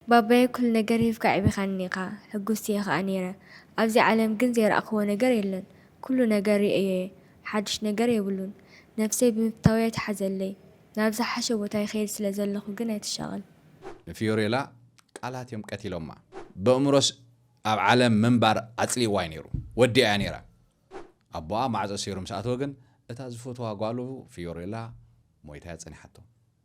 ባባየ ኩሉ ነገር ሂብካ ኣዕቢኻኒ ኢኻ ሕጉስቲየ ከኣ ኔረ ኣብዚ ዓለም ግን ዘይረኣኽዎ ነገር የለን ኩሉ ነገር ሪኤዮየ ሓዱሽ ነገር የብሉን ነፍሰይ ብምፍታወይ ኣይትሓዘለይ ናብ ዝሓሸ ቦታ ይኸይድ ስለ ዘለኹ ግን ኣይትሻቐል። ንፊዮሬላ ቃላት እዮም ቀቲሎማ። በእምሮስ ኣብ ዓለም ምንባር ኣጽሊእዋ እዩ ነይሩ። ወዲኣያ ነይራ። ኣቦኣ ማዕጾ ሰይሩ ምስ ኣተወ ግን እታ ዝፈትዋ ጓሉ ፊዮሬላ ሞይታ'ያ ጸኒሓቶ።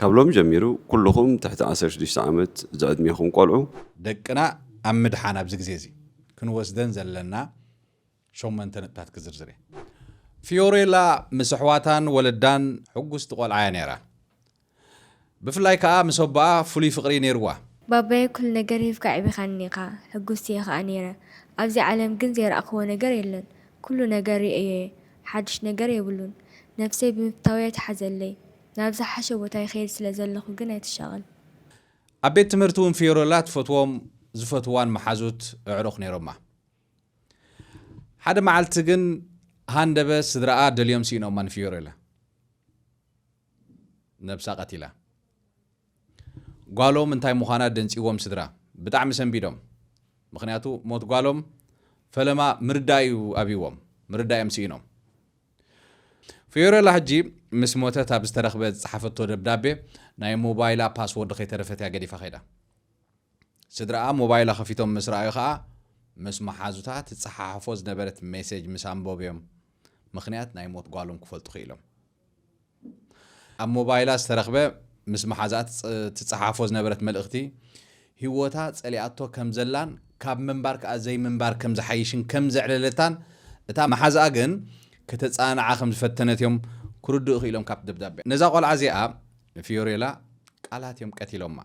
ካብ ሎሚ ጀሚሩ ኩሉኹም ትሕቲ ዓሰርተ ሽዱሽተ ዓመት ዝዕድሜኹም ቆልዑ። ደቅና ኣብ ምድሓን ኣብዚ ግዜ እዚ ክንወስደን ዘለና ሸሞንተ ነጥብታት ክዝርዝር እየ። ፊዮሬላ ምስ ኣሕዋታን ወለዳን ሕጉስቲ ቆልዓ እያ ነይራ። ብፍላይ ከኣ ምስ ኣቦኣ ፍሉይ ፍቕሪ እዩ ነይርዋ። ባባየ ኩሉ ነገር ሂብካ ኣዕቢኻኒ ኢኻ፣ ሕጉስቲ እየ ከኣ ነይረ። ኣብዚ ዓለም ግን ዘይረኣኽዎ ነገር የለን። ኩሉ ነገር ርእየዮ'የ፣ ሓድሽ ነገር የብሉን። ነፍሰይ ብምፍታው'የ ተሓዘለይ። ናብ ዝሓሸ ቦታ ይኸይድ ስለ ዘለኹ ግን ኣይትሻቐል። ኣብ ቤት ትምህርቲ እውን ፊዮረላ ትፈትዎም ዝፈትዋን መሓዙት ኣዕሩኽ ነይሮማ። ሓደ መዓልቲ ግን ሃንደበ ስድራኣ ደልዮም ስኢኖማ ንፊዮረላ ነብሳ ቀቲላ። ጓሎም እንታይ ምዃና ደንጺዎም ስድራ ብጣዕሚ ሰንቢዶም ምኽንያቱ ሞት ጓሎም ፈለማ ምርዳእ እዩ ኣብይዎም ምርዳእ እዮም ስኢኖም። ፍዮረላ ሕጂ ምስ ሞተት ኣብ ዝተረኽበ ዝጸሓፈቶ ደብዳቤ ናይ ሞባይላ ፓስዎርድ ከይተረፈት እያ ገዲፋ ከይዳ። ስድራኣ ሞባይላ ከፊቶም ምስ ረኣዩ ከኣ ምስ መሓዙታ ትጸሓሓፎ ዝነበረት ሜሴጅ ምስ ኣንበቡ'ዮም ምኽንያት ናይ ሞት ጓሎም ክፈልጡ ክኢሎም። ኣብ ሞባይላ ዝተረኽበ ምስ መሓዛኣ ትጸሓፎ ዝነበረት መልእኽቲ፣ ህይወታ ጸሊኣቶ ከም ዘላን ካብ ምንባር ከኣ ዘይምንባር ከም ዝሓይሽን ከም ዘዕለለታን እታ መሓዛኣ ግን ከተጸናንዓ ከም ዝፈተነት እዮም ክርድኡ ክኢሎም ካብቲ ደብዳበ። ነዛ ቆልዓ እዚኣ ንፊዮሬላ ቃላት እዮም ቀቲሎማ።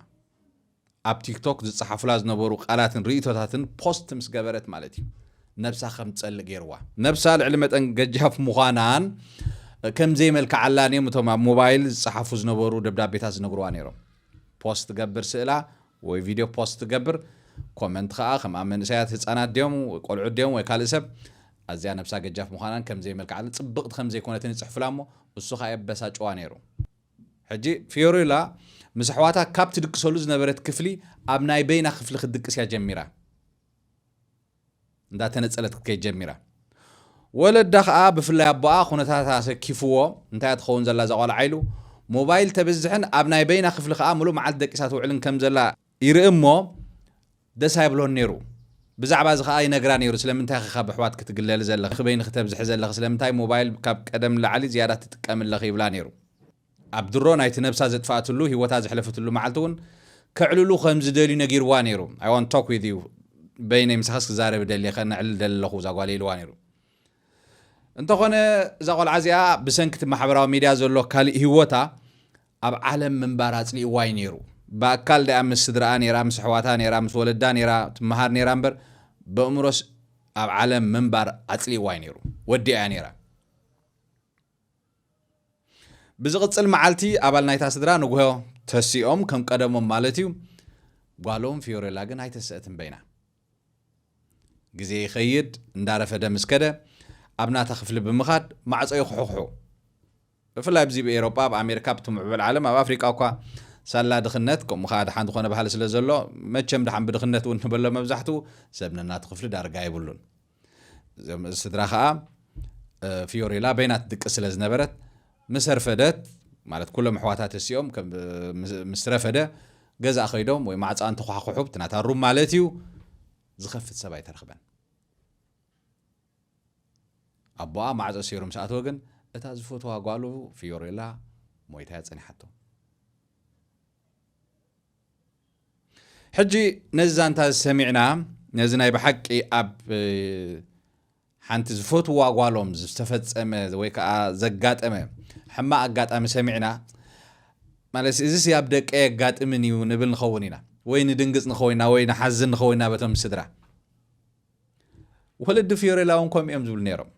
ኣብ ቲክቶክ ዝጸሓፉላ ዝነበሩ ቃላትን ርእይቶታትን ፖስት ምስ ገበረት ማለት እዩ ነብሳ ከም ትጸልእ ገይርዋ። ነብሳ ልዕሊ መጠን ገጃፍ ምዃናን ከም ዘይመልክዓላን እዮም እቶም ኣብ ሞባይል ዝጸሓፉ ዝነበሩ ደብዳቤታት ዝነግርዋ ነይሮም። ፖስት ትገብር ስእላ ወይ ቪድዮ ፖስት ትገብር ኮመንት ከኣ ከምኣ መንእሰያት ህጻናት ድዮም ቆልዑት ድዮም ወይ ካልእ ሰብ ኣዝያ ነብሳ ገጃፍ ምዃናን ከም ዘይመልክዓላን ጽብቕቲ ከም ዘይኮነትን ይጽሕፉላ እሞ እሱ ከኣ የበሳጭዋ ነይሩ። ሕጂ ፊዮሪላ ምስ ኣሕዋታ ካብ ትድቅሰሉ ዝነበረት ክፍሊ ኣብ ናይ በይና ክፍሊ ክትድቅስ እያ ጀሚራ። እንዳ ተነጸለት ክትከይድ ጀሚራ። ወለዳ ከኣ ብፍላይ ኣቦኣ ኩነታታ ኣሰኪፍዎ እንታይ እያ ትኸውን ዘላ እዛ ቖልዓ ኢሉ ሞባይል ተብዝሕን ኣብ ናይ በይና ክፍሊ ከኣ ምሉእ መዓልቲ ደቂሳ ትውዕልን ከም ዘላ ይርኢ እሞ ደስ ኣይብሎን ነይሩ ብዛዕባ እዚ ከኣ ይነግራ ነይሩ ስለምንታይ ኢኺ ካብ ኣሕዋት ክትግለሊ ዘለኺ ክበይኒ ክተብዝሒ ዘለኺ ስለምንታይ ሞባይል ካብ ቀደም ንላዕሊ ዝያዳ ትጥቀሚ ኣለኺ ይብላ ነይሩ ኣብ ድሮ ናይቲ ነብሳ ዘጥፋእትሉ ህይወታ ዘሕለፍትሉ መዓልቲ እውን ከዕልሉ ከም ዝደልዩ ነጊርዋ ነይሩ ኣይ ዋን ቶክ ዊዝ ዩ በይነይ ምሳኻስ ክዛረብ ደልየ ከነዕልል ደሊ ኣለኹ እዛ ጓል ኢልዋ ነይሩ እንተኾነ እዛ ቆልዓ እዚኣ ብሰንኪ እቲ ማሕበራዊ ሚድያ ዘሎ ካልእ ህይወታ ኣብ ዓለም ምንባር ኣጽሊእዋ እዩ ነይሩ ብኣካል ዳኣ ምስ ስድራኣ ነይራ ምስ ኣሕዋታ ነይራ ምስ ወለዳ ነይራ ትመሃር ነይራ እምበር በእምሮስ ኣብ ዓለም ምንባር ኣጽሊእዋ እዩ ነይሩ ወዲኣ እያ ነይራ ብዝቕጽል መዓልቲ ኣባል ናይታ ስድራ ንጉሆ ተሲኦም ከም ቀደሞም ማለት እዩ ጓሎም ፊዮሬላ ግን ኣይተሰአትን በይና ግዜ ይኸይድ እንዳረፈደ ምስ ከደ ኣብ ናታ ክፍሊ ብምኻድ ማዕጾ ይኹሕኹሑ። ብፍላይ ኣብዚ ብ ኤሮጳ ብ ኣሜርካ ኣብቲ ምዕቡል ዓለም ኣብ ኣፍሪቃ እኳ ሳላ ድኽነት ከምኡ ከኣ ድሓን ዝኾነ ባህሊ ስለ ዘሎ መቸም ድሓን ብድኽነት ውን ንበሎ መብዛሕትኡ ሰብ ነናቱ ክፍሊ ዳርጋ የብሉን። እዞም ስድራ ከኣ ፊዮሬላ በይናት ድቂ ስለ ዝነበረት ምስ ኣርፈደት ማለት ኩሎም ኣሕዋታ ተሲኦም ምስ ረፈደ ገዛ ከይዶም ወይ ማዕፃ እንተኳሕኩሑ እቲ ናታ ሩም ማለት እዩ ዝኸፍት ሰብ ኣይተረኽበን ኣቦኣ ማዕፆ ሰይሩ ምስ ኣተወ ግን እታ ዝፈትዋ ጓሉ ፊዮሬላ ሞይታ እያ ፀኒሓቶ ሕጂ ነዚ ዛንታ እዚ ሰሚዕና ነዚ ናይ ብሓቂ ኣብ ሓንቲ ዝፈትዋ ጓሎም ዝተፈጸመ ወይ ከዓ ዘጋጠመ ሕማቅ ኣጋጣሚ ሰሚዕና ማለት እዚ ሲ ኣብ ደቀ የጋጥምን እዩ ንብል ንኸውን ኢና ወይ ንድንግጽ ንኸውን ኢና ወይ ንሓዝን ንኸውን ኢና በቶም ስድራ ወለዲ ፊዮሬላ እውን ከምኡ እዮም ዝብሉ ነይሮም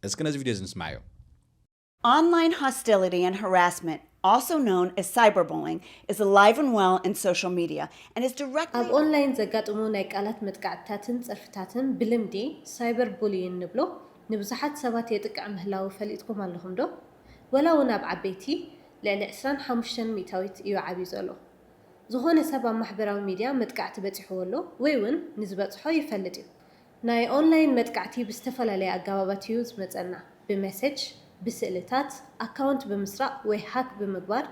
እስኪ ነዚ ቪድዮ እዚ ንስማዕዮ Online hostility and harassment, also known as cyberbullying, is alive and well in social media and is directly. ኣብ ኦንላይን ዘጋጥሙ ናይ ቃላት መጥቃዕትታትን ጸርፍታትን ብልምዲ ሳይበር ቡልይን ንብሎ ንብዙሓት ሰባት የጥቅዕ ምህላዉ ፈሊጥኩም ኣለኹም ዶ? ወላ ውን ኣብ ዓበይቲ ልዕሊ ዕስራን ሓሙሽተን ሚእታዊት እዩ ዓብዩ ዘሎ። ዝኾነ ሰብ ኣብ ማሕበራዊ ሚድያ መጥቃዕቲ በጺሕዎ ኣሎ ወይ ውን ንዝበጽሖ ይፈልጥ እዩ። ናይ ኦንላይን መጥቃዕቲ ብዝተፈላለየ ኣገባባት እዩ ዝመጸና፣ ብመሰጅ፣ ብስእልታት፣ ኣካውንት ብምስራቕ ወይ ሃክ ብምግባር፣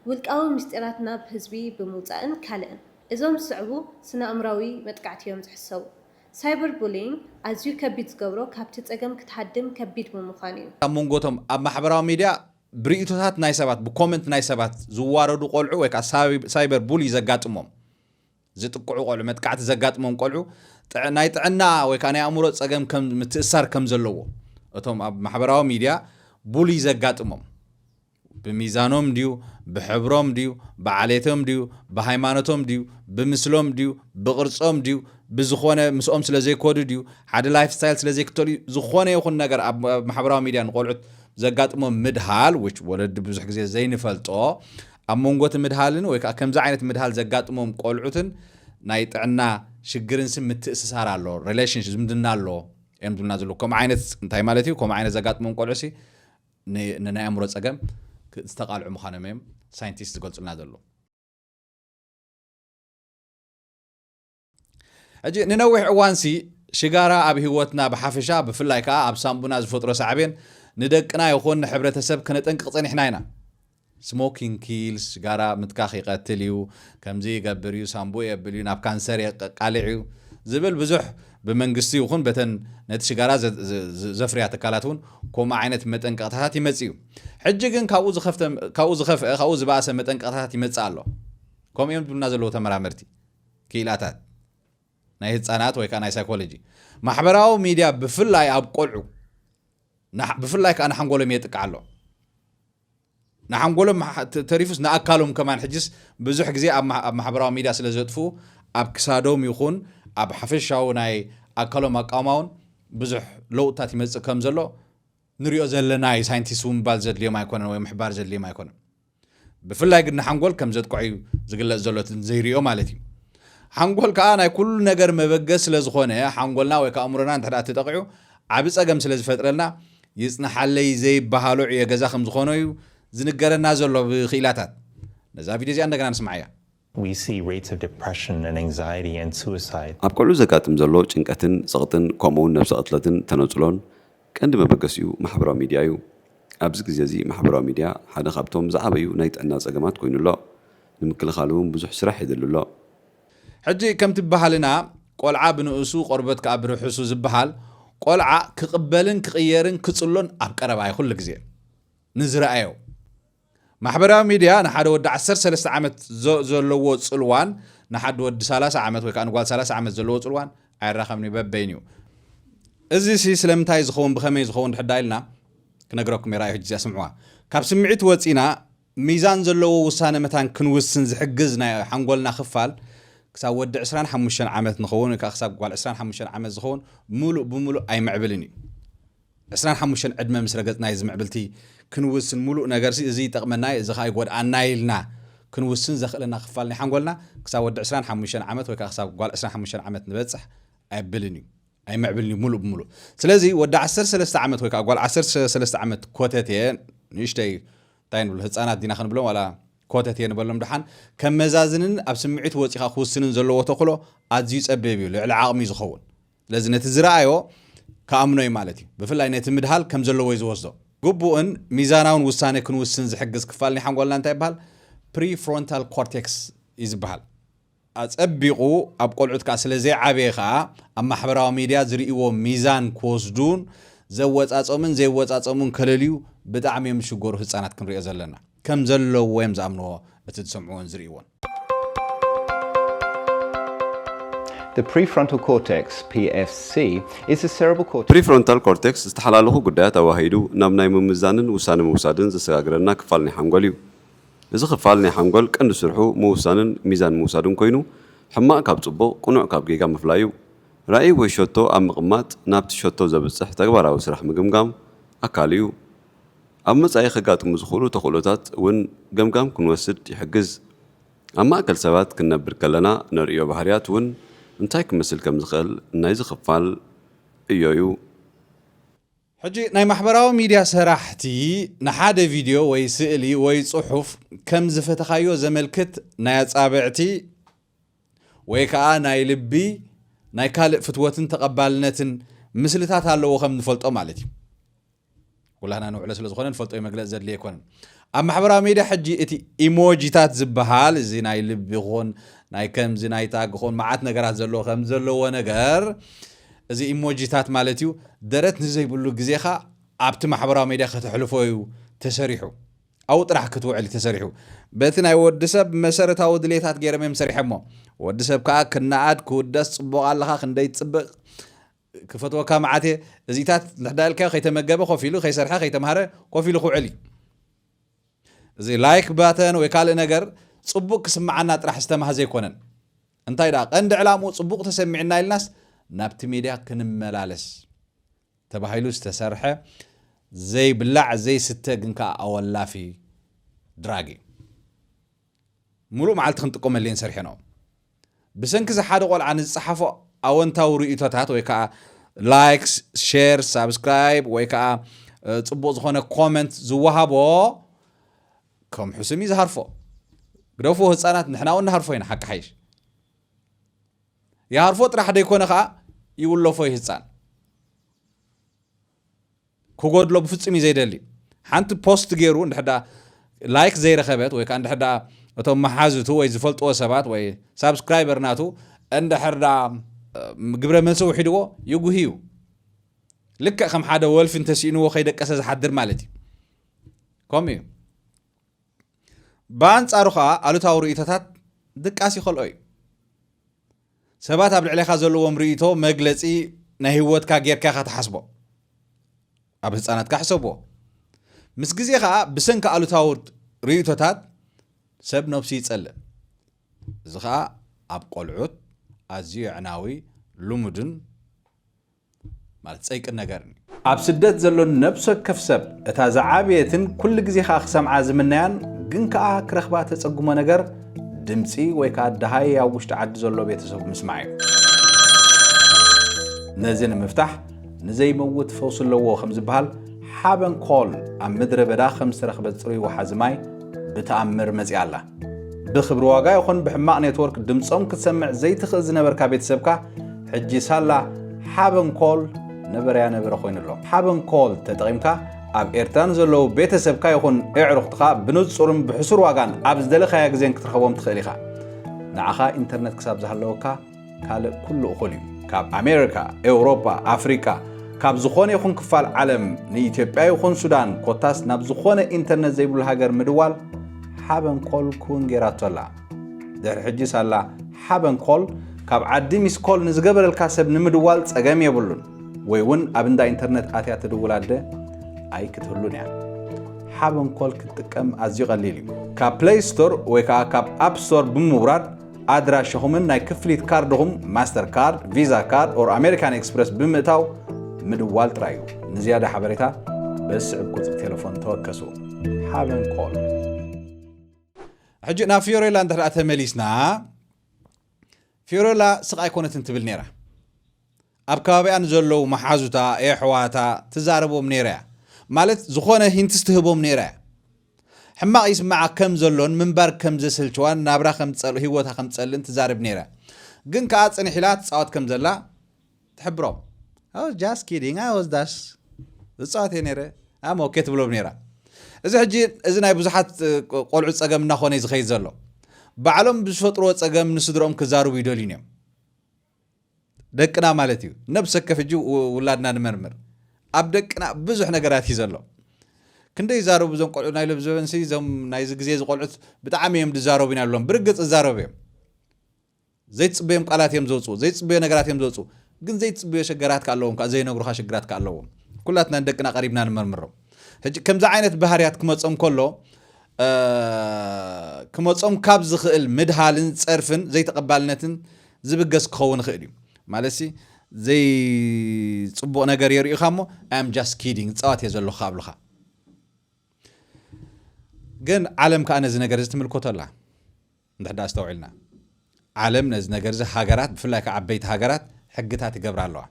ውልቃዊ ምስጢራት ናብ ህዝቢ ብምውጻእን ካልእን። እዞም ዝስዕቡ ስነኣእምራዊ መጥቃዕቲ እዮም ዝሕሰቡ። ሳይበር ቡሊይንግ ኣዝዩ ከቢድ ዝገብሮ ካብቲ ጸገም ክትሃድም ከቢድ ብምዃኑ እዩ። ኣብ መንጎ እቶም ኣብ ማሕበራዊ ሚድያ ብርእይቶታት ናይ ሰባት፣ ብኮመንት ናይ ሰባት ዝዋረዱ ቆልዑ ወይ ከዓ ሳይበር ቡሊይ ዘጋጥሞም ዝጥቅዑ ቆልዑ፣ መጥቃዕቲ ዘጋጥሞም ቆልዑ ጥዕ ናይ ጥዕና ወይ ከኣ ናይ ኣእምሮ ጸገም ከም ምትእሳር ከም ዘለዎ እቶም ኣብ ማሕበራዊ ሚድያ ቡሊ ዘጋጥሞም ብሚዛኖም ድዩ ብሕብሮም ድዩ ብዓሌቶም ድዩ ብሃይማኖቶም ድዩ ብምስሎም ድዩ ብቕርጾም ድዩ ብዝኾነ ምስኦም ስለ ዘይኮዱ ድዩ ሓደ ላይፍ ስታይል ስለ ዘይክተሉ እዩ ዝኾነ ይኹን ነገር ኣብ ኣብ ማሕበራዊ ሚድያ ንቆልዑት ዘጋጥሞም ምድሃል which ወለዲ ብዙሕ ግዜ ዘይንፈልጦ ኣብ መንጎ'ቲ ምድሃልን ወይ ከኣ ከምዚ ዓይነት ምድሃል ዘጋጥሞም ቆልዑትን ናይ ጥዕና ሽግርንሲ ምትእስሳር ኣሎ፣ Relationship፣ ዝምድና ኣሎ እዮም ዝብሉና ዘለዉ። ከምኡ ዓይነት እንታይ ማለት እዩ? ከምኡ ዓይነት ዘጋጥሞም ቆልዑሲ ን ንናይ ኣእምሮ ጸገም ክ ዝተቓልዑ ምዃኖም እዮም ሳይንቲስት ዝገልጹልና ዘለዉ። ሕጂ ንነዊሕ እዋንሲ ሽጋራ ኣብ ህይወትና ብሓፈሻ ብፍላይ ከኣ ኣብ ሳንቡና ዝፈጥሮ ሳዕቤን ንደቅና ይኹን ንሕብረተሰብ ከነጠንቅቕ ጸኒሕና ኢና። ስሞኪንግ ኪልስ፣ ሽጋራ ምትካኽ ይቐትል እዩ፣ ከምዚ ይገብር እዩ፣ ሳንቡእ የብል እዩ፣ ናብ ካንሰር የቃልዕ እዩ ዝብል ብዙሕ ብመንግስቲ ይኹን በተን ነቲ ሽጋራ ዘፍርያ ትካላት እውን ከምኡ ዓይነት መጠንቀቕታታት ይመጽእ እዩ። ሕጂ ግን ካብኡ ዝኸፍተ ካብኡ ዝኸፍአ ካብኡ ዝበኣሰ መጠንቀቕታታት ይመጽእ ኣሎ ከምኡ እዮም ዝብሉና ዘለዉ ተመራመርቲ። ክኢላታት ናይ ህጻናት ወይ ከኣ ናይ ሳይኮሎጂ ማሕበራዊ ሚድያ ብፍላይ ኣብ ቆልዑ ብፍላይ ከዓ ንሓንጎሎም የጥቅዓ ኣሎ ንሓንጎሎም ተሪፉስ ንኣካሎም ከማን ሕጅስ ብዙሕ ግዜ ኣብ ማሕበራዊ ሚድያ ስለ ዘጥፍኡ ኣብ ክሳዶም ይኹን ኣብ ሓፈሻዊ ናይ ኣካሎም ኣቃውማውን ብዙሕ ለውጥታት ይመፅእ ከም ዘሎ ንሪኦ ዘለና እዩ ሳይንቲስት እውን ምባል ዘድልዮም ኣይኮነን ወይ ምሕባር ዘድልዮም ኣይኮነን ብፍላይ ግን ንሓንጎል ከም ዘጥቅዖ እዩ ዝግለጽ ዘሎ እቲ ዘይርኦ ማለት እዩ። ሓንጎል ከኣ ናይ ኩሉ ነገር መበገሲ ስለ ዝኾነ ሓንጎልና ወይ ከኣ ኣእምሮና እንተ ደኣ ተጠቒዑ ዓቢ ጸገም ስለ ዝፈጥረልና ይጽናሓለይ ዘይበሃሎ ዕዮ ገዛ ከም ዝኾኖ እዩ ዝንገረና ዘሎ ብክኢላታት። ነዛ ቪድዮ እዚኣ እንደገና ንስምዓያ። We see rates of depression and anxiety and suicide. ኣብ ቆልዑ ዘጋጥም ዘሎ ጭንቀትን ጸቕጥን ከምኡ'ውን ነብሰ ቅትለትን ተነጽሎን ቀንዲ መበገሲኡ ማሕበራዊ ሚድያ እዩ። ኣብዚ ግዜ እዚ ማሕበራዊ ሚድያ ሓደ ካብቶም ዝዓበዩ ናይ ጥዕና ጸገማት ኮይኑ ኣሎ። ንምክልኻሉ እውን ብዙሕ ስራሕ የድሊ ኣሎ። ሕጂ ከምቲ ባህልና ቆልዓ ብንእሱ ቆርበት ከኣ ብርሑሱ ዝበሃል ቆልዓ ክቕበልን ክቕየርን ክጽሎን ኣብ ቀረባ እዩ ኩሉ ግዜ ንዝረኣዮ። ማሕበራዊ ሚድያ ንሓደ ወዲ ዓሰርተ ሰለስተ ዓመት ዘለዎ ጽልዋን ንሓዲ ወዲ ሰላሳ ዓመት ወይ ከዓ ንጓል ሰላሳ ዓመት ዘለዎ ጽልዋን ኣይራኸብን እዩ በበይኑ እዩ እዚ ሲ ስለምንታይ ዝኸውን ብኸመይ ዝኸውን ድሕዳ ኢልና ክነግረኩም የራዩ ሕጂ እዚኣ ስምዕዋ ካብ ስምዒት ወፂና ሚዛን ዘለዎ ውሳነ መታን ክንውስን ዝሕግዝ ናይ ሓንጎልና ክፋል ክሳብ ወዲ 25 ዓመት ንኸውን ወይ ከዓ ክሳብ ጓል 25 ዓመት ዝኸውን ምሉእ ብምሉእ ኣይምዕብልን እዩ ዕስራን ሓሙሽተን ዕድመ ምስ ረገጽና እዩ እዚ ምዕብልቲ ክንውስን ምሉእ ነገርሲ እዚ ይጠቕመና እዩ እዚ ኸኣ ይጎድኣና እዩ ኢልና ክንውስን ዘኽእለና ክፋል ናይ ሓንጎልና ክሳብ ወዲ ዕስራን ሓሙሽተን ዓመት ወይ ከኣ ክሳብ ጓል ዕስራን ሓሙሽተን ዓመት ንበጽሕ ኣየብልን እዩ ኣይምዕብልን እዩ ምሉእ ብምሉእ ስለዚ ወዲ ዓሰርተ ሰለስተ ዓመት ወይ ከኣ ጓል ዓሰርተ ሰለስተ ዓመት ኮተቴ ንእሽተይ እንታይ ንብሎ ህፃናት ዲና ክንብሎም ዋላ ኮተት እየ ንበሎም ድሓን ከመዛዝንን ኣብ ስምዒት ወፂኻ ክውስንን ዘለዎ ተኽእሎ ኣዝዩ ፀቢብ እዩ ልዕሊ ዓቕሚ እዩ ዝኸውን ስለዚ ነቲ ዝረኣዮ ክኣምኖ እዩ ማለት እዩ። ብፍላይ ነቲ ምድሃል ከም ዘለዎ እዩ ዝወስዶ። ግቡእን ሚዛናውን ውሳነ ክንውስን ዝሕግዝ ክፋል ናይ ሓንጎልና እንታይ ይበሃል? ፕሪፍሮንታል ኮርቴክስ እዩ ዝበሃል። ኣጸቢቑ ኣብ ቆልዑት ከኣ ስለ ዘይዓበየ ከኣ ኣብ ማሕበራዊ ሚድያ ዝርእይዎ ሚዛን ክወስዱን ዘወጻጸሙን ዘይወጻጸሙን ከለልዩ ብጣዕሚ እዮም ዝሽገሩ ህጻናት ክንሪኦ ዘለና። ከም ዘለዎ እዮም ዝኣምንዎ እቲ ዝሰምዕዎን ዝርእይዎን። The prefrontal cortex, PFC, is the cerebral cortex. ፕሪፍሮንታል ኮርቴክስ ዝተሓላለኹ ጉዳያት ኣዋሃሂዱ ናብ ናይ ምምዛንን ውሳነ ምውሳድን ዘሰጋግረና ክፋል ናይ ሓንጎል እዩ። እዚ ክፋል ናይ ሓንጎል ቀንዲ ስርሑ ምውሳንን ሚዛን ምውሳድን ኮይኑ ሕማቕ ካብ ጽቡቕ ቅኑዕ ካብ ጌጋ ምፍላይ እዩ። ራእይ ወይ ሸቶ ኣብ ምቕማጥ ናብቲ ሸቶ ዘብጽሕ ተግባራዊ ስራሕ ምግምጋም ኣካሉ እዩ። ኣብ መጻኢ ከጋጥሙ ዝኽእሉ ተኽእሎታት እውን ገምጋም ክንወስድ ይሕግዝ። ኣብ ማእከል ሰባት ክንነብር ከለና ነርእዮ ባህርያት እውን እንታይ ክመስል ከም ዝኽእል ናይዚ ክፋል ዕዮ'ዩ። ሕጂ ናይ ማሕበራዊ ሚድያ ሰራሕቲ ንሓደ ቪድዮ ወይ ስእሊ ወይ ጽሑፍ ከም ዝፈተኻዮ ዘመልክት ናይ ኣጻብዕቲ ወይ ከኣ ናይ ልቢ ናይ ካልእ ፍትወትን ተቐባልነትን ምስልታት ኣለዎ ከም ንፈልጦ ማለት እዩ። ኩላህና ንውዕሎ ስለ ዝኾነ ንፈልጦ እዩ መግለፂ ዘድልየ ኣይኮነን ኣብ ማሕበራዊ ሚድያ ሕጂ እቲ ኢሞጂታት ዝበሃል እዚ ናይ ልቢ ኹን ናይ ከምዚ ናይ ታግ ኹን መዓት ነገራት ዘለዎ ከም ዘለዎ ነገር እዚ ኢሞጂታት ማለት እዩ ደረት ንዘይብሉ ግዜኻ ኣብቲ ማሕበራዊ ሚድያ ከተሕልፎ እዩ ተሰሪሑ ኣብኡ ጥራሕ ክትውዕል እዩ ተሰሪሑ በቲ ናይ ወዲ ሰብ መሰረታዊ ድሌታት ገይሮም እዮም ሰሪሐሞ ወዲ ሰብ ከዓ ክነኣድ ክውደስ ፅቡቕ ኣለኻ ክንደይ ፅብቕ ክፈትወካ መዓት እየ እዚታት ንሕዳ ኢልካዮ ከይተመገበ ኮፍ ኢሉ ከይሰርሐ ከይተምሃረ ኮፍ ኢሉ ክውዕል እዩ እዚ ላይክ ባተን ወይ ካልእ ነገር ጽቡቅ ክስምዓና ጥራሕ ዝተማህ ዘይኮነን እንታይ ደኣ ቀንዲ ዕላምኡ ጽቡቅ ተሰሚዕና ኢልናስ ናብቲ ሚድያ ክንመላለስ ተባሂሉ ዝተሰርሐ ዘይብላዕ ዘይስተ ግን ከዓ ኣወላፊ ድራግ እዩ ምሉእ መዓልቲ ክንጥቀመሉ እየን ሰርሔናኦ። ብሰንኪ እዚ ሓደ ቆልዓ ንዝጸሓፎ ኣወንታዊ ርእይቶታት ወይ ከዓ ላይክስ፣ ሼር፣ ሳብስክራይብ ወይ ከዓ ጽቡቕ ዝኾነ ኮመንት ዝወሃቦ ከም ሕሱም እዩ ዝሃርፎ። ግደፉ ህፃናት ንሕና እውን ንሃርፎ ኢና ሓቂ ሓይሽ ይሃርፎ ጥራሕ ደይኮነ ከዓ ይውለፎ ይህፃን ክጎድሎ ብፍጹም እዩ ዘይደሊ ሓንቲ ፖስት ገይሩ እንድሕር ደኣ ላይክ ዘይረኸበት ወይ ከዓ እንድሕር ደኣ እቶም መሓዝቱ ወይ ዝፈልጥዎ ሰባት ወይ ሳብስክራይበር ናቱ እንድሕር ደኣ ግብረ መልሲ ውሒድዎ ይጉህ እዩ ልክዕ ከም ሓደ ወልፊ እንተስኢንዎ ከይደቀሰ ዝሓድር ማለት እዩ ከምኡ እዩ ብኣንጻሩ ከዓ ኣሉታዊ ርእቶታት ድቃስ ይኸልኦ እዩ ሰባት ኣብ ልዕሌኻ ዘለዎም ርእይቶ መግለጺ ናይ ህይወትካ ጌርካ ኢኻ ትሓስቦ። ኣብ ህጻናትካ ሕሰብዎ። ምስ ግዜ ከኣ ብሰንኪ ኣሉታዊ ርእይቶታት ሰብ ነብሱ ይጸልእ። እዚ ከኣ ኣብ ቆልዑት ኣዝዩ የዕናዊ፣ ልሙድን፣ ማለት ጸይቅን ነገርን እዩ። ኣብ ስደት ዘሎ ነብሲ ወከፍ ሰብ እታ ዝዓበየትን ኩሉ ግዜ ከኣ ክሰምዓ ዝምነያን ግን ከኣ ክረኽባ ተጸግሞ ነገር ድምጺ ወይ ከኣ ደሃይ ኣብ ውሽጢ ዓዲ ዘሎ ቤተሰቡ ምስማዕ እዩ። ነዚ ንምፍታሕ ንዘይመውት ፈውሲ ኣለዎ ከም ዝበሃል ሓበን ኮል ኣብ ምድረ በዳ ከም ዝተረኽበት ጽሩይ ወሓዚ ማይ ብተኣምር መጺኣ ኣላ። ብክብሪ ዋጋ ይኹን ብሕማቕ ኔትወርክ ድምጾም ክትሰምዕ ዘይትኽእል ዝነበርካ ቤተሰብካ ሕጂ ሳላ ሓበን ኮል ነበረያ ነበረ ኮይኑ ኣሎ። ሓበን ኮል ተጠቒምካ ኣብ ኤርትራ ንዘለዉ ቤተሰብካ ይኹን ኤዕሩኽትኻ ብንጹርን ብሕሱር ዋጋን ኣብ ዝደለኻያ ግዜን ክትርኸቦም ትኽእል ኢኻ። ንዓኻ ኢንተርነት ክሳብ ዝሃለወካ ካልእ ኩሉ እኹል እዩ። ካብ ኣሜሪካ፣ ኤውሮፓ፣ ኣፍሪቃ ካብ ዝኾነ ይኹን ክፋል ዓለም ንኢትዮጵያ ይኹን ሱዳን ኮታስ ናብ ዝኾነ ኢንተርነት ዘይብሉ ሃገር ምድዋል ሓበን ኮል ክውን ጌራቶ ኣላ። ድሕሪ ሕጂ ሳላ ሓበን ኮል ካብ ዓዲ ሚስ ኮል ንዝገበረልካ ሰብ ንምድዋል ጸገም የብሉን። ወይ እውን ኣብ እንዳ ኢንተርነት ኣትያ ትድውል ኣደ ኣይክትህሉን እያ። ሓበን ኮል ክትጥቀም ኣዝዩ ቀሊል እዩ። ካብ ፕለይ ስቶር ወይ ከዓ ካብ ኣፕ ስቶር ብምውራድ ኣድራሻኹምን ናይ ክፍሊት ካርድኹም ማስተር ካርድ፣ ቪዛ ካርድ ኦር ኣሜሪካን ኤክስፕረስ ብምእታው ምድዋል ጥራይ እዩ። ንዝያዳ ሓበሬታ በዚ ዝስዕብ ቁጽሪ ቴለፎን ተወከሱ። ሓበን ኮል ሕጂ ናብ ፊዮሬላ እንተ ተመሊስና ፊዮሬላ ስቕ ኣይኮነትን ትብል ነይራ ኣብ ከባቢያ ንዘለዉ መሓዙታ የሕዋታ ትዛረቦም ነይራ እያ ማለት ዝኾነ ሂንትስ ትህቦም ነይራ እያ ሕማቕ ይስምዓ ከም ዘሎን ምንባር ከም ዘስልችዋን ናብራ ከም ዝጸልእ ህይወታ ከም ዝጸልእን ትዛረብ ነይራ። ግን ከኣ ጽንሕ ኢላ ትጻወት ከም ዘላ ትሕብሮም። I was just kidding, I was just ዝጻወት እየ ነይረ I'm okay ትብሎም ነይራ። እዚ ሕጂ እዚ ናይ ብዙሓት ቆልዑ ጸገም እናኾነ እዩ ዝኸይድ ዘሎ። ባዕሎም ብዝፈጥርዎ ጸገም ንስድርኦም ክዛርቡ ይደልዩን እዮም። ደቅና ማለት እዩ ነብሰ ከፍ እጂ ውላድና ንመርምር ኣብ ደቅና ብዙሕ ነገራት እዩ ዘሎ ክንደይ ይዛረቡ እዞም ቆልዑ ናይ ሎብ ዘበንሲ እዞም ናይዚ ግዜ ዝቆልዑት ብጣዕሚ እዮም ዝዛረቡ ኢና ሎም ብርግፅ ዝዛረቡ እዮም ዘይትፅበዮም ቃላት እዮም ዘውፅኡ ዘይትፅበዮ ነገራት እዮም ዘውፅኡ ግን ዘይትፅበዮ ሸገራት ከ ኣለዎም ከዓ ዘይነግሩካ ሽግራት ከ ኣለዎም ኩላትና ንደቅና ቀሪብና ንመርምሮም ሕጂ ከምዚ ዓይነት ባህርያት ክመፆም ከሎ ክመፆም ካብ ዝኽእል ምድሃልን ፀርፍን ዘይተቐባልነትን ዝብገስ ክኸውን ይኽእል እዩ ማለትሲ ዘይፅቡቕ ነገር የርእዩኻ እሞ ኣም ጃስት ኪዲንግ ፃዋት እየ ዘለኹ ኣብልኻ ግን ዓለም ከዓ ነዚ ነገር እዚ ትምልከቶ ኣላ እንድሕዳ ኣስተውዒልና ዓለም ነዚ ነገር እዚ ሃገራት ብፍላይ ከዓ ዓበይቲ ሃገራት ሕግታት ይገብራ ኣለዋ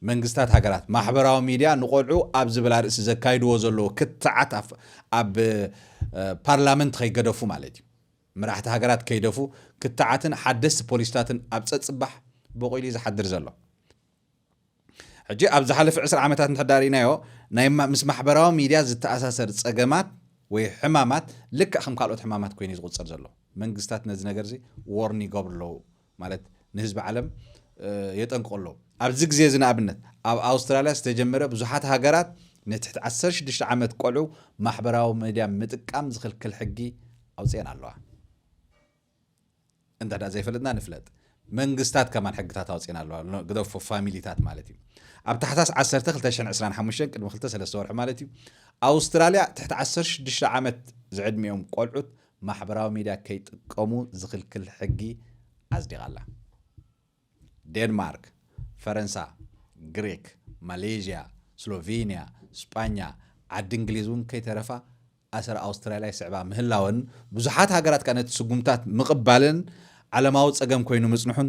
መንግስታት ሃገራት ማሕበራዊ ሚድያ ንቆልዑ ኣብ ዝብላ ርእሲ ዘካይድዎ ዘለዎ ክትዓት ኣብ ፓርላመንት ከይገደፉ ማለት እዩ መራሕቲ ሃገራት ከይደፉ ክትዓትን ሓደስቲ ፖሊሲታትን ኣብ ጸጽባሕ ቦቒሉ'ዩ ዝሓድር ዘሎ። ሕጂ ኣብ ዝሓለፈ ዕስራ ዓመታት እንተድኣ ርኢናዮ ናይ ምስ ማሕበራዊ ሚድያ ዝተኣሳሰር ጸገማት ወይ ሕማማት ልክዕ ከም ካልኦት ሕማማት ኮይኑ'ዩ ዝቑጸር ዘሎ። መንግስታት ነዚ ነገር'ዚ ዎርን ይገብሩ ኣለዉ። ማለት ንህዝቢ ዓለም የጠንቅቑ ኣለዉ። ኣብዚ ግዜ እዚ ንኣብነት ኣብ ኣውስትራልያ ዝተጀመረ ብዙሓት ሃገራት ንትሕቲ ዓሰርተ ሽዱሽተ ዓመት ቆልዑ ማሕበራዊ ሚድያ ምጥቃም ዝኽልክል ሕጊ ኣውፅኤን ኣለዋ። እንተ ዘይፈለጥና ንፍለጥ መንግስታት ከማን ሕግታት ኣውፅኤን ኣለዋ ግደፎ ፋሚሊታት ማለት እዩ ኣብ ታሕሳስ 1 225 ቅድሚ 23 ወርሒ ማለት እዩ ኣውስትራልያ ትሕቲ 16 ዓመት ዝዕድሚኦም ቆልዑት ማሕበራዊ ሚድያ ከይጥቀሙ ዝኽልክል ሕጊ ኣጽዲቓ ኣላ። ዴንማርክ፣ ፈረንሳ፣ ግሪክ፣ ማሌዥያ፣ ስሎቬንያ፣ ስጳኛ፣ ዓዲ እንግሊዝ እውን ከይተረፋ ኣሰር ኣውስትራልያ ይስዕባ ምህላወን ብዙሓት ሃገራት ከኣ ነቲ ስጉምትታት ምቕባለን ዓለማዊ ጸገም ኮይኑ ምጽንሑን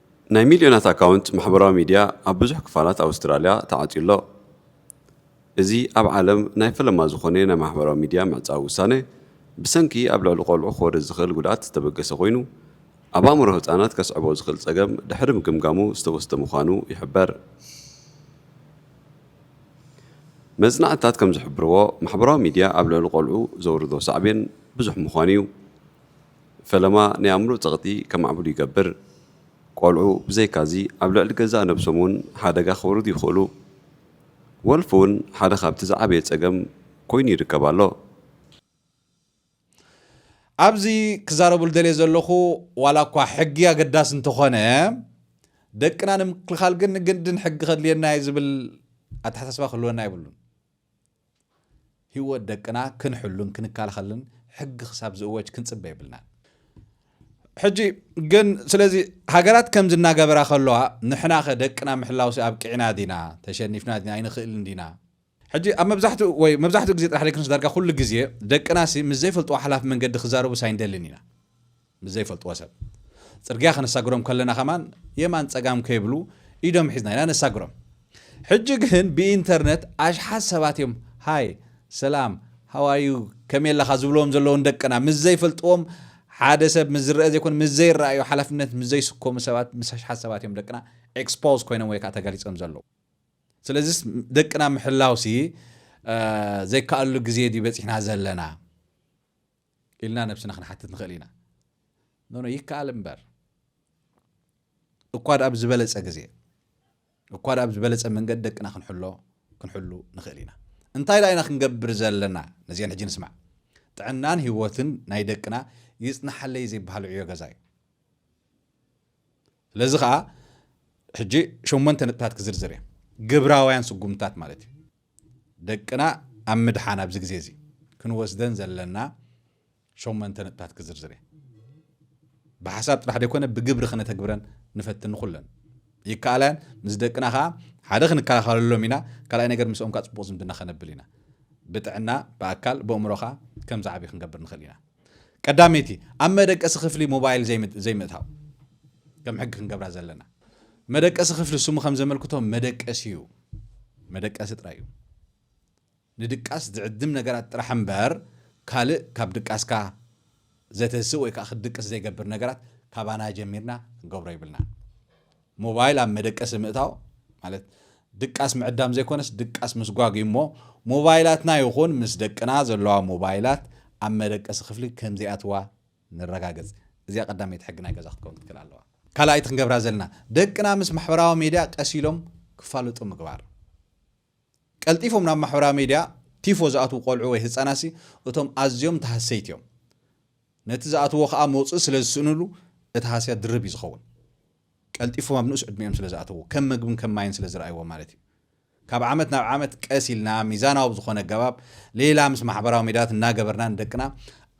ናይ ሚልዮናት ኣካውንት ማሕበራዊ ሚድያ ኣብ ብዙሕ ክፋላት ኣውስትራልያ ተዓጽዩ ኣሎ። እዚ ኣብ ዓለም ናይ ፈለማ ዝኾነ ናይ ማሕበራዊ ሚድያ ምዕጻው ውሳነ፣ ብሰንኪ ኣብ ልዕሊ ቆልዑ ክወርድ ዝኽእል ጉድኣት ዝተበገሰ ኮይኑ፣ ኣብ ኣእምሮ ህጻናት ከስዕቦ ዝኽእል ጸገም ድሕሪ ምግምጋሙ ዝተወስደ ምዃኑ ይሕበር። መጽናዕትታት ከም ዝሕብርዎ፣ ማሕበራዊ ሚድያ ኣብ ልዕሊ ቆልዑ ዘውርዶ ሳዕቤን ብዙሕ ምዃኑ'ዩ። ፈለማ ናይ ኣእምሮ ጸቕጢ ከማዕብሉ ይገብር። ቆልዑ ብዘይካዚ ኣብ ልዕሊ ገዛእ ነብሶም እውን ሓደጋ ከውርዱ ይኽእሉ። ወልፊ እውን ሓደ ካብቲ ዝዓበየ ጸገም ኮይኑ ይርከብ ኣሎ። ኣብዚ ክዛረበሉ ደልየ ዘለኹ ዋላ እኳ ሕጊ ኣገዳሲ እንተኾነ ደቅና ንምክልኻል ግን ግድን ሕጊ ከድልየና እዩ ዝብል ኣተሓሳስባ ክህልወና የብሉን። ህይወት ደቅና ክንሕሉን ክንከላኸልን ሕጊ ክሳብ ዝእወጅ ክንጽበ የብልናን። ሕጂ ግን ስለዚ ሃገራት ከምዚ እናገበራ ከለዋ ንሕናኸ ደቅና ምሕላውሲ ኣብቅዕና ዲና ተሸኒፍና ዲና ኣይንኽእልን ዲና ሕጂ ኣብ መብዛሕትኡ ወይ መብዛሕትኡ ግዜ ጥራሕ ዘይኮነስ ዳርጋ ኩሉ ግዜ ደቅናሲ ምስ ዘይፈልጥዎ ሓላፍ መንገዲ ክዛረቡስ ኣይንደልን ኢና ምስ ዘይፈልጥዎ ሰብ ጽርግያ ከነሳግሮም ከለና ከማን የማን ጸጋም ከይብሉ ኢዶም ሒዝና ኢና ነሳግሮም። ሕጂ ግን ብኢንተርነት ኣሽሓት ሰባት እዮም ሃይ ሰላም ሃዋዩ ከመይ ኣለኻ ዝብልዎም ዘለዉ ንደቅና ምስ ዘይፈልጥዎም ሓደ ሰብ ምስ ዝረአ ዘይኮነ ምስ ዘይረኣዩ ሓላፍነት ምስ ዘይስከሙ ሰባት ምስ ኣሽሓት ሰባት እዮም ደቅና ኤክስፖዝ ኮይኖም ወይ ከዓ ተጋሊፆም ዘለዉ ስለዚ ደቅና ምሕላውሲ ዘይከኣሉ ግዜ ድዩ በፂሕና ዘለና ኢልና ነብስና ክንሓትት ንኽእል ኢና። ኖኖ ይከኣል እምበር እኳ ድኣ ብዝበለጸ ግዜ እኳ ድኣ ብዝበለጸ መንገዲ ደቅና ክንሕሎ ክንሕሉ ንኽእል ኢና። እንታይ ድኣ ኢና ክንገብር ዘለና? ነዚአን ሕጂ ንስማዕ። ጥዕናን ህይወትን ናይ ደቅና ይጽናሓለይ ዘይበሃል ዕዮ ገዛ እዩ። ስለዚ ከዓ ሕጂ ሸሞንተ ነጥብታት ክዝርዝር እየ። ግብራውያን ስጉምትታት ማለት እዩ። ደቅና ኣብ ምድሓን ኣብዚ ግዜ እዚ ክንወስደን ዘለና ሸሞንተ ነጥብታት ክዝርዝር እየ ብሓሳብ ጥራሕ ዘይኮነ ብግብሪ ክነተግብረን ንፈትን ንኹለን ይከኣላያን ምስ ደቅና ከዓ ሓደ ክንከላኸለሎም ኢና ካልኣይ ነገር ምስኦም ከዓ ፅቡቅ ዝምድና ከነብል ኢና ብጥዕና ብኣካል ብእምሮኻ ከም ዝዓብይ ክንገብር ንኽእል ኢና ቀዳመይቲ ኣብ መደቀሲ ክፍሊ ሞባይል ዘይምእታው ከም ሕጊ ክንገብራ ዘለና መደቀሲ ክፍሊ ስሙ ከም ዘመልክቶ መደቀሲ እዩ መደቀሲ ጥራይ እዩ ንድቃስ ዝዕድም ነገራት ጥራሕ እምበር ካልእ ካብ ድቃስካ ዘተስእ ወይ ከዓ ክትድቅስ ዘይገብር ነገራት ካባና ጀሚርና ክንገብሮ ይብልና ሞባይል ኣብ መደቀሲ ምእታው ማለት ድቃስ ምዕዳም ዘይኮነስ ድቃስ ምስጓግ እዩ እሞ ሞባይላትና ይኹን ምስ ደቅና ዘለዋ ሞባይላት ኣብ መደቀሲ ክፍሊ ከምዘይኣትዋ ንረጋገጽ። እዚኣ ቀዳመይቲ ሕጊ ናይ ገዛ ክትከውን ክትክእል ኣለዋ። ካልኣይቲ ክንገብራ ዘለና ደቅና ምስ ማሕበራዊ ሜድያ ቀስ ኢሎም ክፋለጡ ምግባር። ቀልጢፎም ናብ ማሕበራዊ ሚድያ ቲፎ ዝኣትዉ ቆልዑ ወይ ህጻናትሲ እቶም ኣዝዮም ተሃሰይቲ እዮም። ነቲ ዝኣትዉዎ ከኣ መውጽኢ ስለ ዝስእንሉ እቲ ሃስያ ድርብ እዩ ዝኸውን። ቀልጢፎም ኣብ ንኡስ ዕድሚኦም ስለ ዝኣተዉ፣ ከም መግብን ከም ማይን ስለ ዝረኣይዎ ማለት እዩ። ካብ ዓመት ናብ ዓመት ቀስ ኢልና ሚዛናዊ ብዝኾነ ኣገባብ ሌላ ምስ ማሕበራዊ ሚድያታት እናገበርና ንደቅና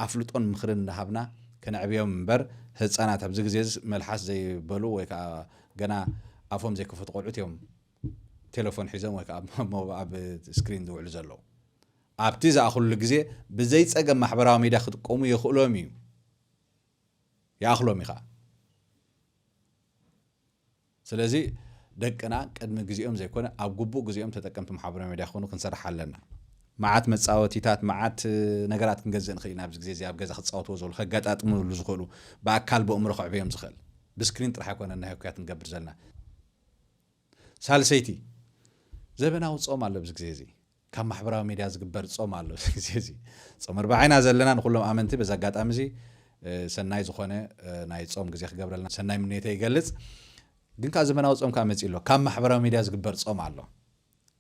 ኣፍልጦን ምኽርን እናሃብና ከነዕብዮም እምበር ህጻናት ኣብዚ ግዜ'ዚ መልሓስ ዘይበሉ ወይ ከኣ ገና ኣፎም ዘይከፈቱ ቆልዑት እዮም። ቴለፎን ሒዞም ወይ ከዓ ኣብ ስክሪን ዝውዕሉ ዘለዉ ኣብቲ ዝኣኽሉሉ ግዜ ብዘይ ፀገም ማሕበራዊ ሚድያ ክጥቀሙ የኽእሎም እዩ ይኣኽሎም እዩ ከዓ ስለዚ ደቅና ቅድሚ ግዜኦም ዘይኮነ ኣብ ግቡእ ግዜኦም ተጠቀምቲ ማሕበራዊ ሚድያ ክኾኑ ክንሰርሕ ኣለና መዓት መፃወቲታት መዓት ነገራት ክንገዝእ ንኽእል ኢና ኣብዚ ግዜ እዚ ኣብ ገዛ ክፃወትዎ ዝኽእሉ ከጋጣጥምሉ ዝኽእሉ ብኣካል ብእምሮ ክዕብዮም ዝኽእል ብስክሪን ጥራሕ ኣይኮነ ናይ ህኩያት ንገብር ዘለና ሳልሰይቲ፣ ዘበናዊ ጾም ኣሎ ኣብዚ ግዜ እዚ። ካብ ማሕበራዊ ሚድያ ዝግበር ጾም ኣሎ ኣብዚ ግዜ እዚ። ጾመ ኣርብዓ ኢና ዘለና ንኹሎም ኣመንቲ በዚ ኣጋጣሚ እዚ ሰናይ ዝኾነ ናይ ጾም ግዜ ክገብረልና ሰናይ ምንየተይ ይገልጽ። ግን ከኣ ዘበናዊ ጾም ከኣ መጺኡ ኣሎ። ካብ ማሕበራዊ ሚድያ ዝግበር ጾም ኣሎ።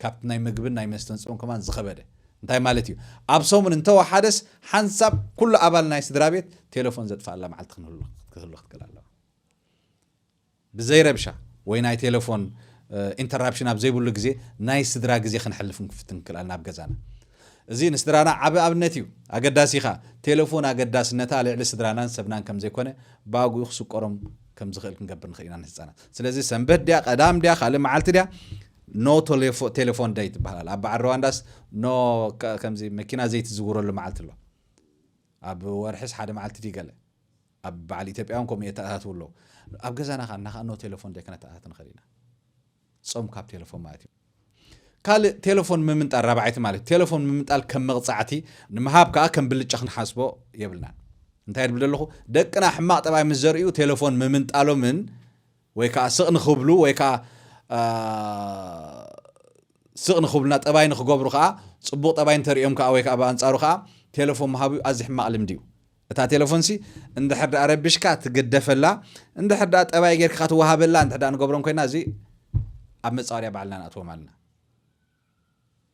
ካብቲ ናይ ምግብን ናይ መስተን ጾም ከማን ዝኸበደ። እንታይ ማለት እዩ? ኣብ ሰሙን እንተወሓደስ ሓንሳብ ኩሉ ኣባል ናይ ስድራቤት ቴለፎን ዘጥፍኣላ መዓልቲ ክንህሉ ክትክእል ኣለዋ። ብዘይ ረብሻ ወይ ናይ ቴለፎን ኢንተራፕሽን ኣብ ዘይብሉ ግዜ ናይ ስድራ ግዜ ክንሕልፍ ክንፍትን ክንክእል ኣለና ኣብ ገዛና። እዚ ንስድራና ዓቢ ኣብነት እዩ። ኣገዳሲ ከኣ ቴለፎን ኣገዳስነታ ልዕሊ ስድራናን ሰብናን ከም ዘይኮነ ብኣግኡ ክስቆሮም ከም ዝኽእል ክንገብር ንኽእል ኢና ንህጻናት። ስለዚ ሰንበት ድያ ቀዳም ድያ ካልእ መዓልቲ ድያ ኖ ቴለፎን ደይ ትበሃል ኣላ። ኣብ በዓል ሩዋንዳስ ኖ ከምዚ መኪና ዘይትዝውረሉ መዓልቲ ኣሎ። ኣብ ወርሕስ ሓደ መዓልቲ ድዩ ገለ ኣብ በዓል ኢትዮጵያውን ከምኡ የተኣታትዉ ኣለዉ። ኣብ ገዛና ከኣ እና ኖ ቴለፎን ደይ ከነተኣታት ንኽእል ኢና። ጾም ካብ ቴለፎን ማለት እዩ። ካልእ ቴለፎን ምምንጣል ራብዓይቲ ማለት እዩ። ቴለፎን ምምንጣል ከም መቕጻዕቲ ንምሃብ ከኣ ከም ብልጫ ክንሓስቦ የብልናን። እንታይ ድብል ደለኹ ደቅና ሕማቕ ጠባይ ምስ ዘርእዩ ቴለፎን ምምንጣሎምን ወይ ከዓ ስቕ ንኽብሉ ወይ ከዓ ስቕ ንኽብሉና ጠባይ ንክገብሩ ከዓ ፅቡቕ ጠባይ እንተርእዮም ከዓ ወይ ከዓ ብኣንፃሩ ከዓ ቴለፎን ምሃቡ ኣዚ ሕማቕ ልምዲ እዩ እታ ቴለፎን ሲ እንድሕር ደኣ ረቢሽካ ትግደፈላ እንድሕር ደኣ ጠባይ ጌርካ ትወሃበላ እንድሕር ደኣ ንገብሮም ኮይና እዚ ኣብ መጻወድያ ባዕልና ንኣትዎም ኣለና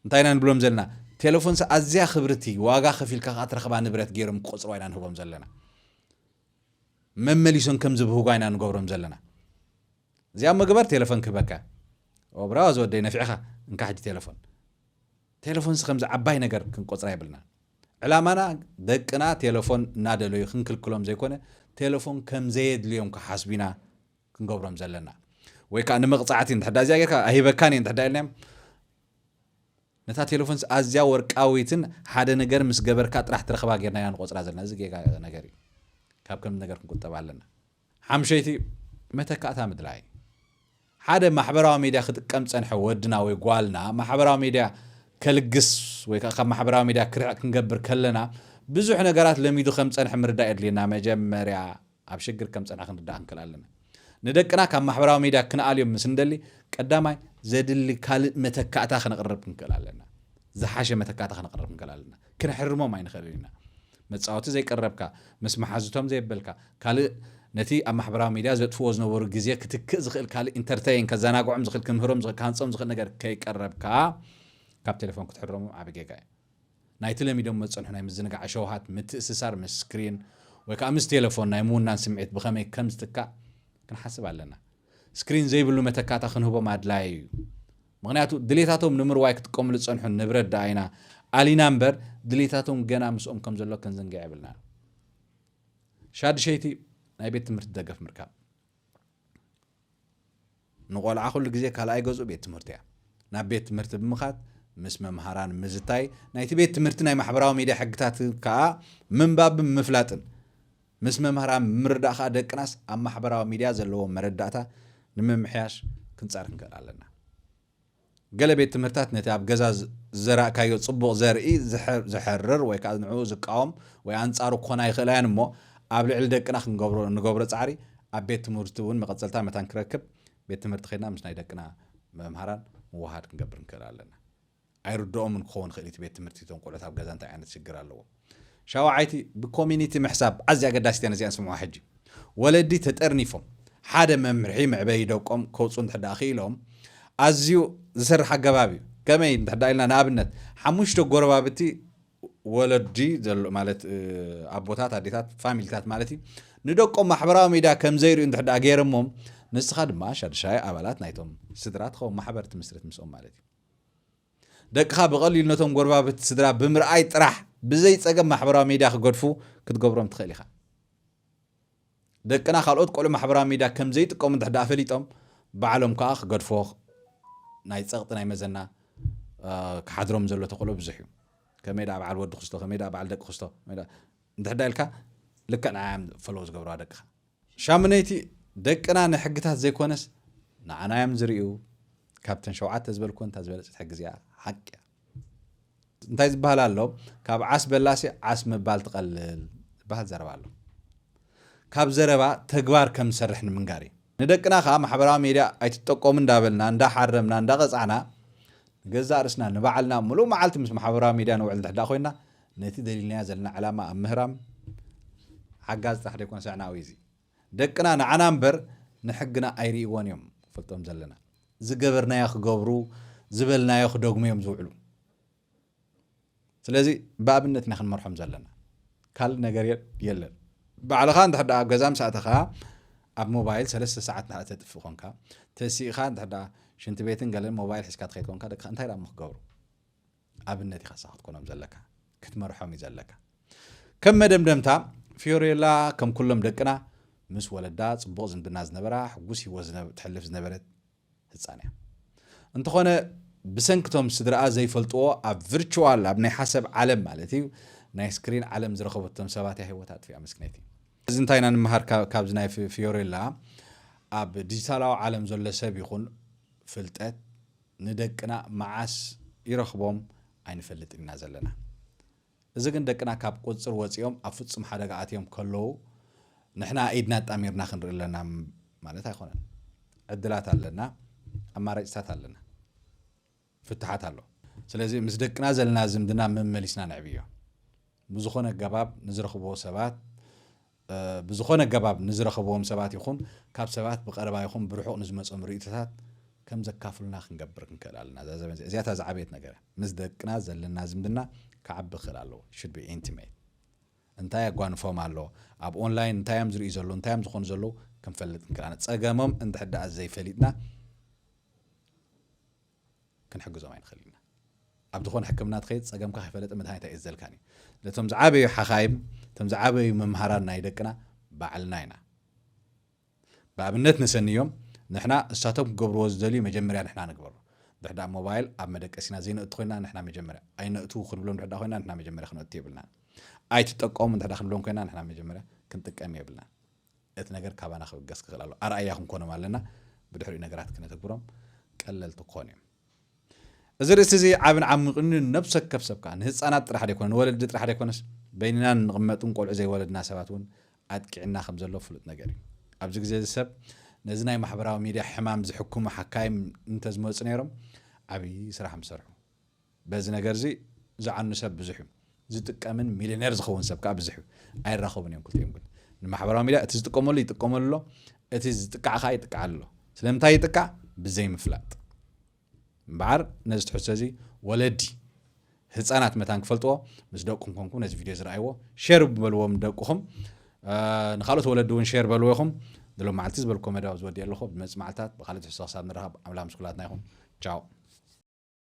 እንታይ ኢና ንብሎም ዘለና ቴለፎን ሲ ኣዝያ ክብርቲ ዋጋ ከፊልካ ከዓ ትረኽባ ንብረት ገይሮም ክቆፅርዋ ኢና ንህቦም ዘለና መመሊሶም ከም ዝብህጓ ኢና ንገብሮም ዘለና እዚኣ መግበር ቴለፎን ክህበካ ብራዋ ዝወደይ ነፊዕኻ እንካ ሕጂ ቴለፎን ቴለፎንሲ ከምዚ ዓባይ ነገር ክንቆጽራ የብልናን። ዕላማና ደቅና ቴለፎን እናደለዩ ክንክልክሎም ዘይኮነ ቴለፎን ከም ዘየድልዮም ክሓስቡ ኢና ክንገብሮም ዘለና። ወይ ከኣ ንመቕጻዕቲ እንድሕር እዚኣ ጌርካ ኣይህበካን እየ እንድሕር ኢልናዮም ነታ ቴለፎንሲ ኣዝያ ወርቃዊትን ሓደ ነገር ምስ ገበርካ ጥራሕ ትረኽባ ጌርና ኢና ንቆጽራ ዘለና። እዚ ጌጋ ነገር እዩ። ካብ ከምዚ ነገር ክንቁጠብ ኣለና። ሓምሸይቲ፣ መተካእታ ምድላይ። ሓደ ማሕበራዊ ሚድያ ክጥቀም ዝጸንሐ ወድና ወይ ጓልና ማሕበራዊ ሚድያ ከልግስ ወይ ከኣ ካብ ማሕበራዊ ሚድያ ክርሕቕ ክንገብር ከለና ብዙሕ ነገራት ለሚዱ ከም ዝጸንሐ ምርዳእ የድልየና። መጀመርያ ኣብ ሽግር ከም ዝጸንሐ ክንርዳእ ክንክእል ኣለና። ንደቅና ካብ ማሕበራዊ ሚድያ ክንኣልዮም ምስ እንደሊ ቀዳማይ ዘድሊ ካልእ መተካእታ ከነቕርብ ክንክእል ኣለና። ዝሓሸ መተካእታ ከነቕርብ ክንክእል ኣለና። ክንሕርሞም ኣይንኽእልን ኢና። መጻወቲ ዘይቀረብካ፣ ምስ መሓዙቶም ዘየበልካ፣ ካልእ ነቲ ኣብ ማሕበራዊ ሚድያ ዘጥፍዎ ዝነበሩ ግዜ ክትክእ ዝኽእል ካልእ ኢንተርተይን ከዘናግዖም ዝኽእል ክምህሮም ዝኽእል ክሃንጾም ዝኽእል ነገር ከይቀረብካ ካብ ቴለፎን ክትሕረሞም ዓቢ ጌጋ እዩ። ናይቲ ለሚዶሞ ዝጸንሑ ናይ ምዝንጋዕ ሸውሃት ምትእስሳር ምስ ስክሪን ወይ ከኣ ምስ ቴለፎን ናይ ምውናን ስምዒት ብኸመይ ከም ዝትካእ ክንሓስብ ኣለና። ስክሪን ዘይብሉ መተካእታ ክንህቦም ኣድላዪ እዩ። ምኽንያቱ ድሌታቶም ንምርዋይ ክጥቀምሉ ዝጸንሑ ንብረት ደኣ ኢና ኣሊና እምበር ድሌታቶም ገና ምስኦም ከም ዘሎ ክንዝንግዕ የብልናን። ሻድሸይቲ ናይ ቤት ትምህርቲ ደገፍ ምርካብ ንቆልዓ ኩሉ ግዜ ካልኣይ ገዝኡ ቤት ትምህርቲ እያ ናብ ቤት ትምህርቲ ብምኻድ ምስ መምሃራን ምዝታይ ናይቲ ቤት ትምህርቲ ናይ ማሕበራዊ ሚድያ ሕግታት ከኣ ምንባብን ምፍላጥን ምስ መምህራን ብምርዳእ ከኣ ደቅናስ ኣብ ማሕበራዊ ሚድያ ዘለዎም መረዳእታ ንምምሕያሽ ክንጸር ክንክእል ኣለና። ገለ ቤት ትምህርታት ነቲ ኣብ ገዛ ዝዘራእካዮ ጽቡቕ ዘርኢ ዝሕርር ወይ ከኣ ንዕኡ ዝቃወም ወይ ኣንጻሩ ክኾና ይኽእላ እየን እሞ ኣብ ልዕሊ ደቅና ክንገብሮ እንገብሮ ጻዕሪ ኣብ ቤት ትምህርቲ እውን መቐጸልታ መታን ክረክብ ቤት ትምህርቲ ከድና ምስ ናይ ደቅና መምሃራን ምውሃድ ክንገብር ንክእል ኣለና። ኣይርድኦምን ክኸውን ይኽእል እዩ እቲ ቤት ትምህርቲ እቶም ቆልዑት ኣብ ገዛ እንታይ ዓይነት ሽግር ኣለዎም ሻውዓይቲ ብኮሚኒቲ ምሕሳብ ኣዝያ ኣገዳሲት እያ ነዚኣ ንስምዑዋ ሕጂ ወለዲ ተጠርኒፎም ሓደ መምርሒ መዕበዪ ደቆም ከውፅኡ እንድሕዳኣ ክኢሎም ኣዝዩ ዝሰርሕ ኣገባብ እዩ ከመይ እንድሕዳ ኢልና ንኣብነት ሓሙሽተ ጎረባብቲ ወለዲ ዘሎ ማለት ኣቦታት ኣዴታት ፋሚሊታት ማለት እዩ ንደቆም ማሕበራዊ ሚድያ ከም ዘይርእዩ እንድሕዳ ገይረሞም ንስኻ ድማ ሻድሻይ ኣባላት ናይቶም ስድራ ትኸውን ማሕበር ትምስርት ምስኦም ማለት እዩ ደቅኻ ብቐሊሉ ነቶም ጎረባብቲ ስድራ ብምርኣይ ጥራሕ ብዘይ ጸገም ማሕበራዊ ሚድያ ክገድፉ ክትገብሮም ትኽእል ኢኻ። ደቅና ካልኦት ቆልዑ ማሕበራዊ ሚድያ ከም ዘይጥቀሙ እንድሕር ደኣ ፈሊጦም ባዕሎም ከኣ ክገድፎ ናይ ጸቕጢ ናይ መዘና ክሓድሮም ዘሎ ተኽእሎ ብዙሕ እዩ። ከመይ ደኣ በዓል ወዲ ክስቶ ከመይ ደኣ በዓል ደቂ ክስቶ እንድሕር ደኣ ኢልካ ልክዕ ንዓዮም ፈለዎ ዝገብርዋ ደቅኻ ሻምነይቲ ደቅና ንሕግታት ዘይኮነስ ንዓና እዮም ዝሪኡ ካብተን ሸውዓተ ዝበልክወን እታ ዝበለጸት ሕጊ እዚኣ ሓቂ እያ እንታይ ዝበሃል ኣሎ ካብ ዓስ በላሲ ዓስ ምባል ትቐልል ዝበሃል ዘረባ ኣሎ ካብ ዘረባ ተግባር ከም ዝሰርሕ ንምንጋር እዩ ንደቅና ከዓ ማሕበራዊ ሜድያ ኣይትጠቀሙ እንዳበልና እንዳሓረምና እንዳቐፃዕና ገዛእ ርስና ንባዕልና ምሉእ መዓልቲ ምስ ማሕበራዊ ሜድያ ንውዕል ድሕዳ ኮይና ነቲ ደሊልናዮ ዘለና ዕላማ ኣብ ምህራም ሓጋዚ ጥራሕ ደይኮነስ ኣዕናዊ እዚ ደቅና ንዓና እምበር ንሕግና ኣይሪእዎን እዮም ክፈልጦም ዘለና ዝገበርናዮ ክገብሩ ዝበልናዮ ክደግሙ እዮም ዝውዕሉ ስለዚ ብኣብነት ኢና ክንመርሖም ዘለና ካልእ ነገር የለን ባዕልኻ እንድሕር ደኣ ኣብ ገዛ ምስ ኣተኻ ኣብ ሞባይል ሰለስተ ሰዓት እንድሕር ተጥፍእ ኮንካ ተሲእኻ እንድሕር ደኣ ሽንቲ ቤትን ገለን ሞባይል ሒዝካ ትኸይድ ኮንካ ደቅኻ እንታይ ደኣ ክገብሩ ኣብነት ኢኻ ንስኻ ክትኮኖም ዘለካ፣ ክትመርሖም እዩ ዘለካ። ከም መደምደምታ፣ ፊዮሬላ ከም ኩሎም ደቅና ምስ ወለዳ ጽቡቕ ዝምድና ዝነበራ፣ ሕጉስ ህይወት ትሕልፍ ዝነበረት ህጻን እያ። እንተኾነ ብሰንክቶም ስድራኣ ዘይፈልጥዎ ኣብ ቪርቹዋል ኣብ ናይ ሓሰብ ዓለም ማለት እዩ ናይ ስክሪን ዓለም ዝረኸበቶም ሰባት እያ ህይወት ኣጥፊኣ መስክነይቲ። እዚ እንታይ ኢና ንምሃር ካብዚ ናይ ፊዮሬላ ኣብ ዲጂታላዊ ዓለም ዘሎ ሰብ ይኹን ፍልጠት ንደቅና መዓስ ይረኽቦም ኣይንፈልጥን ኢና ዘለና። እዚ ግን ደቅና ካብ ቁጽጽር ወጺኦም ኣብ ፍጹም ሓደጋ ኣትዮም ከለዉ ንሕና ኢድና ኣጣሚርና ክንርኢ ኣለና ማለት ኣይኮነን። ዕድላት ኣለና፣ ኣማራጭታት ኣለና፣ ፍታሓት ኣሎ። ስለዚ ምስ ደቅና ዘለና ዝምድና መመሊስና ነዕብዮ። ብዝኾነ ኣገባብ ንዝረኽብዎ ሰባት ብዝኾነ ኣገባብ ንዝረኸብዎም ሰባት ይኹን ካብ ሰባት ብቐረባ ይኹን ብርሑቕ ንዝመጾም ርእይቶታት ከም ዘካፍሉና ክንገብር ክንክእል ኣለና። እዛ ዘበን እዚኣ እዚኣታ ዝዓበየት ነገር እያ። ምስ ደቅና ዘለና ዝምድና ክዓቢ ክኽእል ኣለዎ። Should be intimate። እንታይ ኣጓንፎም ኣሎ፣ ኣብ ኦንላይን እንታይ እዮም ዝርእዩ ዘለዉ፣ እንታይ እዮም ዝኾኑ ዘለዉ ክንፈልጥ ክንክእል ኣለና። ጸገሞም እንድሕር ደኣ ዘይፈሊጥና፣ ክንሕግዞም ኣይንኽእልን ኢና። ኣብ ዝኾነ ሕክምና ትኸይድ ጸገምካ ከይፈለጠ መድሃኒት ኣይእዘልካን እዩ። ስለዚ እቶም ዝዓበዩ ሓኻይም እቶም ዝዓበዩ መምሃራን ናይ ደቅና ባዕልና ኢና። ብኣብነት ነሰንዮም ንሕና እሳቶም ክገብርዎ ዝደልዩ መጀመርያ ንሕና ንግበሮ። ድሕሪ ደኣ ሞባይል ኣብ መደቀሲና ዘይነእቱ ኮይና ንሕና መጀመርያ ኣይነእትዉ ክንብሎም ድሕሪ ደኣ ኮይና ንሕና መጀመርያ ክንእቱ የብልናን። ኣይትጠቀሙ እንድሕር ደኣ ክንብሎም ኮይና ንሕና መጀመርያ ክንጥቀም የብልናን። እቲ ነገር ካባና ክብገስ ክኽእል ኣለዎ። ኣርኣያ ክንኮኖም ኣለና፣ ብድሕሪኡ ነገራት ክነተግብሮም ቀለልቲ ክኾኑ እዮም። እዚ ርእሲ እዚ ዓብን ዓሚቕን እዩ። ንነብሲ ወከፍ ሰብ ከኣ ንህጻናት ጥራሕ ደይኮነ ንወለዲ ጥራሕ ደይኮነስ በይንና እንቕመጥን ቆልዑ ዘይወለድና ሰባት እውን ኣጥቂዕና ከም ዘሎ ፍሉጥ ነገር እዩ። ኣብዚ ግዜ እዚ ሰብ ነዚ ናይ ማሕበራዊ ሚድያ ሕማም ዝሕክሙ ሓካይም እንተዝመጹ ነይሮም ዓብዪ ስራሕ ምሰርሑ። በዚ ነገርዚ ዝዓኑ ሰብ ብዙሕ እዩ። ዝጥቀምን ሚልዮኔር ዝኸውን ሰብ ከኣ ብዝሕ እዩ። ኣይራኸቡን እዮም ክልቲኦም ግን። ንማሕበራዊ ሚድያ እቲ ዝጥቀመሉ ይጥቀመሉ ኣሎ፣ እቲ ዝጥቃዕ ከኣ ይጥቃዓሉ ኣሎ። ስለምንታይ ይጥቃዕ ብዘይምፍላጥ። እምበዓር ነዚ ትሕዝቶ እዚ ወለዲ ህጻናት መታን ክፈልጥዎ ምስ ደቅኩም ኮንኩም ነዚ ቪድዮ ዝረኣይዎ ሼር በልዎም ደቅኹም ንካልኦት ወለዲ እውን ሼር በልዎ ኢኹም ንሎም መዓልቲ ዝበልኮ መደብ ዝወዲእ ኣለኹ ብመፅ መዓልታት ብካልእ ትሕዝቶ ክሳብ ንረኸብ ኣምላኽ ምስ ኩላትና ይኹን ቻው